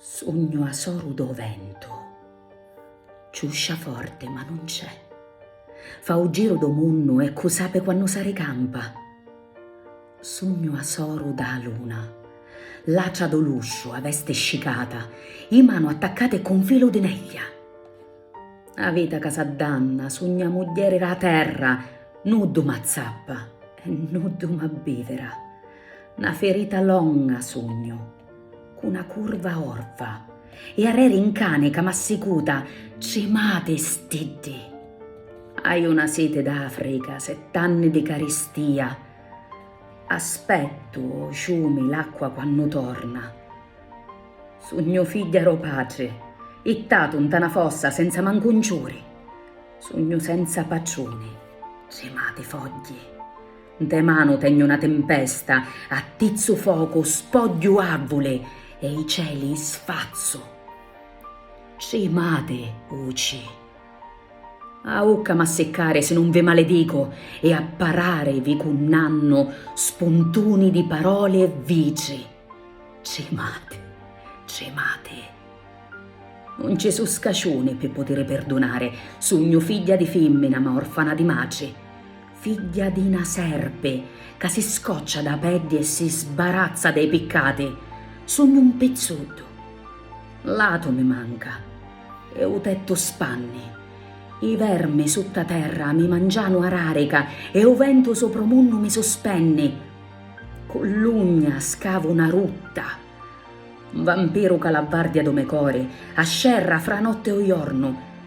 Sugnu 'a soru d' 'o ventu. Ciuscia forte ma nun c'è. Fa 'o giru d' 'o munnu e cu' sape quannu s'arricampa. Sugnu 'a soru d' 'a luna. Lacia d' 'o lusciu, 'a veste scicata, 'i manu attaccate cu 'n filu di neglia. 'a vita ca s'addanna, sugnu 'a mugghieri d' 'a terra, nuddu m'azzappa e nuddu m'abbivira. Na ferita longa sugnu, cu na curva orva, e arreri 'n cani ca m'assicuta, cimati stiddi. Haiu na siti d'Africa, sett'anni di caristia, aspettu ô ciumi l'acqua quannu torna. Sugnu figghia d'ô patri, ittatu 'nta na fossa senza mancu un ciuri. Sugnu senza patruni, cimati fogghi. Ntê manu tegnu na timpesta, attizzu focu, spogghiu avvuli e i celi i sfazzu. Trimati, uci! A ucca m'assiccari si nun vi maledicu e a parari vi cunnannu spuntuni di paroli e vitri. Trimati, trimati! Nun ci su' scaciuni pi putiri pirdunari, sugnu figghia di fimmina ma orfana di matri. Figghia di na serpi ca si scoccia dâ peddi e si sbarazza dê piccati, sugnu un pizzuddu. L'atu mi manca. E u tettu spanni. I vermi sutta terra mi mangianu a rarica e u ventu supra u munnu mi suspenni. Cu l'ugna scavu na rutta. Un vampiru ca l'abbardia dû me cori, a scerra fra a notti e u jornu.